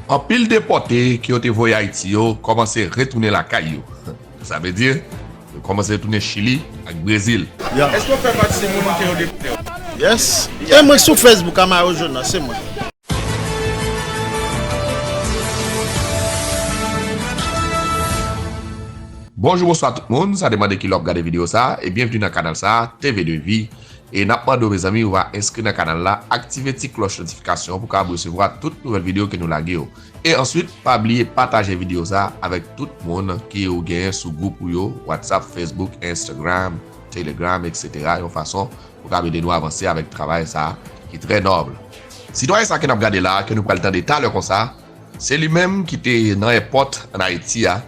Anpil depòte ke yo te voye Ayiti yo kòmanse retounen lakay yo. Sa vle di, yo kòmanse retounen Chili ak Brezil. Èske w fè pati moun ke yo depòte yo? Yes, e mwen sou Facebook Amaro Jonas, se mwen. Bonjou bonswa tout moun, sa depan de ki lè w ap gade video sa, e byenvni nan kanal sa, TV2 Vie, E nap mande w mezanmi ou va enskri nan kanal la, aktive ti klòch notifikasyon an pou kapab resevwa tout nouvèl videyo ke nou lage yo. E answit pa bliye pataje videyo sa avèk tout moun ke ou genyen sou gwoup ou yo, WhatsApp, Facebook, Instagram, Telegram etc. Yon fason pou kapab ede nou avanse avèk travay sa ki trè noble. Sitwayen sa ke nap gade la, ke nou pral tande talè konsa, Se li menm ki te nan èpòt an Ayiti a,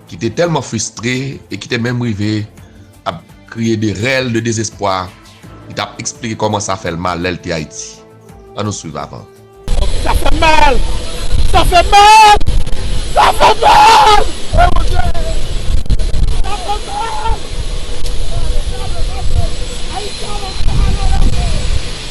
ki te tèlman fristre e ki te menm rive ap kriye de rèl de dezespwa, li t ap eksplike kòman sa fè l mal lè l te Ayiti. An nou swiv avan. Ohh sa fè mal! Sa fè mal! Sa fè mal! Ohh mon Dieu! Sa fè mal! Ohh Ayiti a lòt sa a lòt anko!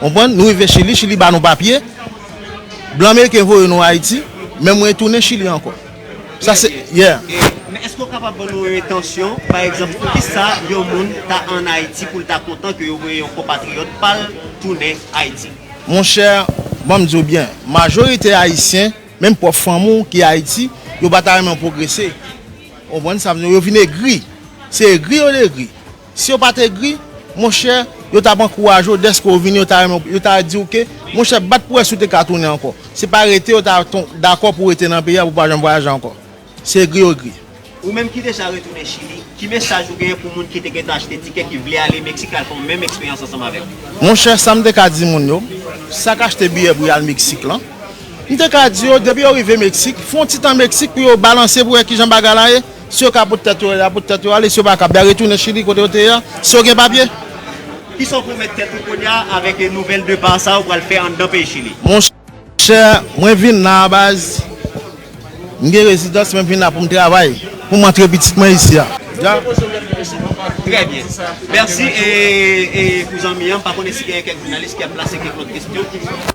Konprann? Nou rive Chili, Chili ba nou papye, blan meriken voye nou Ayiti, men mwen tounen Chili ankò. Sa se, yeah. Men èske ou kapab ban nou yon entansyon, pa egzanp, poukisa yon moun ta an Ayiti pou l ta kontan ke yo voye yon konpatriyòt pa l tounen Ayiti? Mon chè, ban m di w byen, majorite Ayisyen, menm pwòp fanmi w ki Ayiti, yo pa ta renmen w pwogrese. Ou konprann sa m di w? Yo vin egri. Se egri yo egri. Si yo pat egri, monchè, yo t ap ankouraje w dèske w vini, yo ta renmen w, yo ta di w ke, monchè, bat pou wè si w te ka tounen ankò. Se pa rete yo ta dakò pou w rete nan peyi a pou w pa janm vwayaje ankò. Se egri yo egri. Ou menm ki deja retounen Chili, ki mesaj ou genyen pou moun ki te gentan achte tikè ki vle ale Meksik al fè yon menm eksperyans ansanm avèk ou? Monchè, sa m te ka di moun yo, sa k achte biyè pou y al Meksik lan, m te ka di yo, depi yo rive Meksik, fè yon ti tan Meksik pou yo balanse pou wè kijan bagay la ye. Si yo ka pot tèt yo ale, y a pot tèt yo ale, si yo pa kab, y a retounen Chili kote yo te ye a, si yo gen papye. Kisa w pwomèt tèt ou kounye a avèk nouvèl depa sa ou pral fè anndan peyi Chili? Monchè, mwen vin la a baz, m gen rezidans men m vin la pou m travay, pou m antre pitit mwen isi a. Trè byen. Mèsi pou zanmi an. M pa konnen si genyen kèk jounalis ki ap plase kèk lòt kesyon.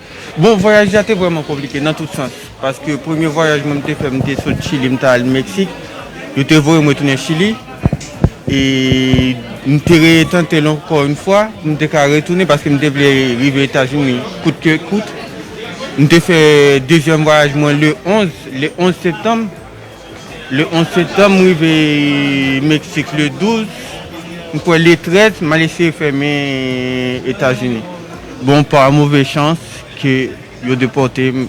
Bon vwayaj la te vrèman konplike nan tout sans paske premye vwayaj mwen m te fè m te sot chili m ta al meksik yo te voye m retounen chili e m te re tante l ankò yn fwa pou m te ka retounen paske m te vle rive etazini kout ke kout m te fè dezyèm vwayaj mwen le 11 le 11 septanm Le 11 septanm m rive Meksik le 12, m kwè le 13 m al eseye fèmen Etazini. Bon pa move chans ke yo depòte m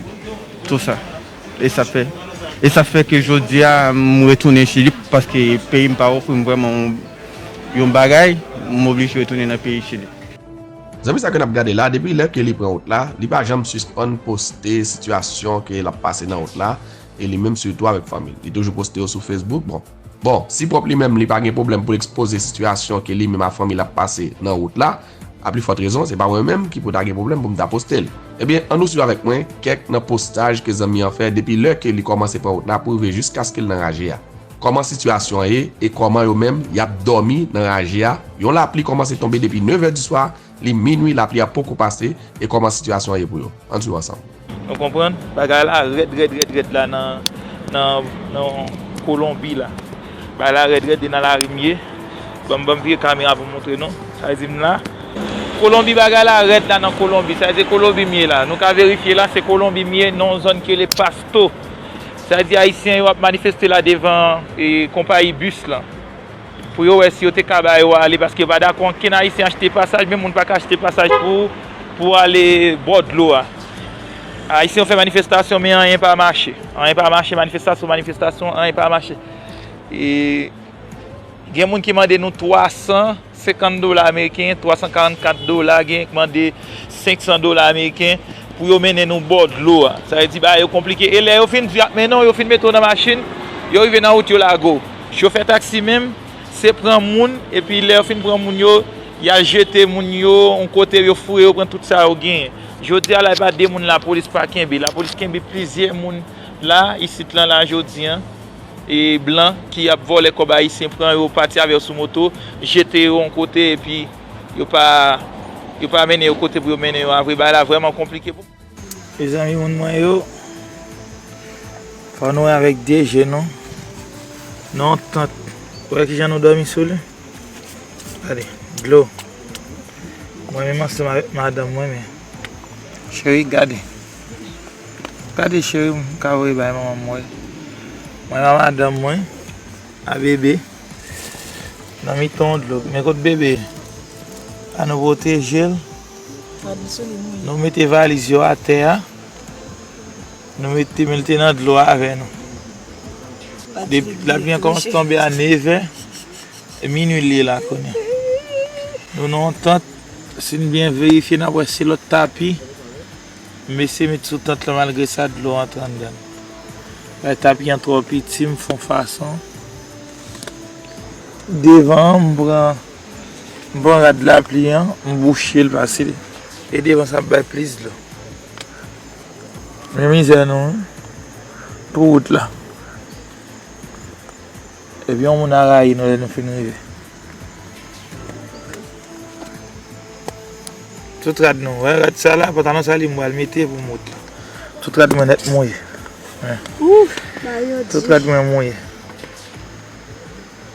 tou sa. E sa fè e sa fè ke jodi a m retounen Chili paske peyi m pa ofri m vrèman yon bagay, m oblije retounen nan peyi Chili. Zanmi sa ke nap gade la depi lè ke li pran wout la li pa janm sispann poste sitiyasyon ke lap pase nan wout la, E li menm sitou avèk fanmi l. Li toujou poste yo sou Facebook. Bon, bon, si pwòp li menm li pa gen pwoblèm pou l ekspoze sitiyasyon ke li menm ak fanmi l ap pase nan wout la, a pli fòt rezon, se pa mwen menm ki pou ta gen pwoblèm pou m ta poste l. Ebyen, annou swiv avèk mwen kèk nan postaj ke zanmi an fè depi lè ke li kòmanse pran wout la pou rive jiskaske l nan raje a. Kòman sitiyasyon an ye e kòman yo menm y ap dòmi nan raje a, yon lapli kòmanse tonbe depi nevè diswa, li minwi lapli a poko pase e kòman sitiyasyon an ye pou yo. Ann swiv ansanm. Nou konprann? Bagay la rèd rèd rèd rèd la nan nan kolonbi la. Bagay la rèd rèd e nan lari m ye. Banm banm vire kamera pou m montre nou. Sa vle di m la. Kolonbi bagay la rèd la nan kolonbi. Sa vle di se kolonbi m ye la. Nou ka verifye la se kolonbi m ye nan yon zòn ki rele pasto. Sa vle di ayisyen yo ap manifeste la devan konpayi bis lan. Pou yo wè si yo te ka ba yo ale paske yo pa dakò ankenn ayisyen achte pasaj menm moun pa ka achte pasaj pou pou ale bò dlo a ayisyen yo fè manifestasyon men anyen pa mache anyen pa mache manifestasyon manifestasyon anyen pa mache e gen moun ki mande nou 350 dola ameriken 344 dola gen yon ki mande 500 dola ameriken pou yo mennen nou bò dlo a sa vle di bagay yo konplike e lè yo fin di yo ap mennen w yo fin mete w nan machin yo rive nan wout yo lage w Chofè taksi menm, se pran moun, epi lè yo fin pran moun yo, y al jete moun yo yon kote, yo fouye, yo pran tout sa yo genyen. Jodi a la, e pa de moun lapolis pa kenbe. Lapolis kenbe plizyè moun la, isit lan la jodi an, e blan ki ap vòlè kòb Ayisyen, pran yo, pati avè yo sou moto, jete yo yon kote, epi yo pa mennen yo kote pou yo mennen yo a vre. Bagay la vrèman konplike. Mezanmi moun mwen yo fò nou wè avèk 2 je nou nan yon tant ou wè kijan nou dòmi sou li gade dlo mwen menm ansanm avèk madanm mwen men cheri gade gade cheri m ka voye bay manman m wè mwen a madanm mwen a bebe nan mitan yon dlo men kot bebe a nou pwoteje l. Nou mete valiz yo atè a. Nou mete men lte nan dlo a avè nou. Depi lapli an kòmanse tonbe a 9 vè. E minwi li la kounye. Nou nan yon tant. Si nou byen verifye nan wè se lòt tapi. Mesye met sou tant lan malgre sa dlo antre anndan. Bay tapi an twò piti m fon fason. Devan an m pran. M pran rad lapli an m bouche l pase l e devan sa ap bay plis dlo. Men mizè nou wi pou wout la. Epi yon moun a rayi nou lè nou fin rive. Tout rad nou wè rad sa la pantalon sa li m pral mete pou m wout la. Tout rad mwen nèt mouye. Tout rad mwen mouye.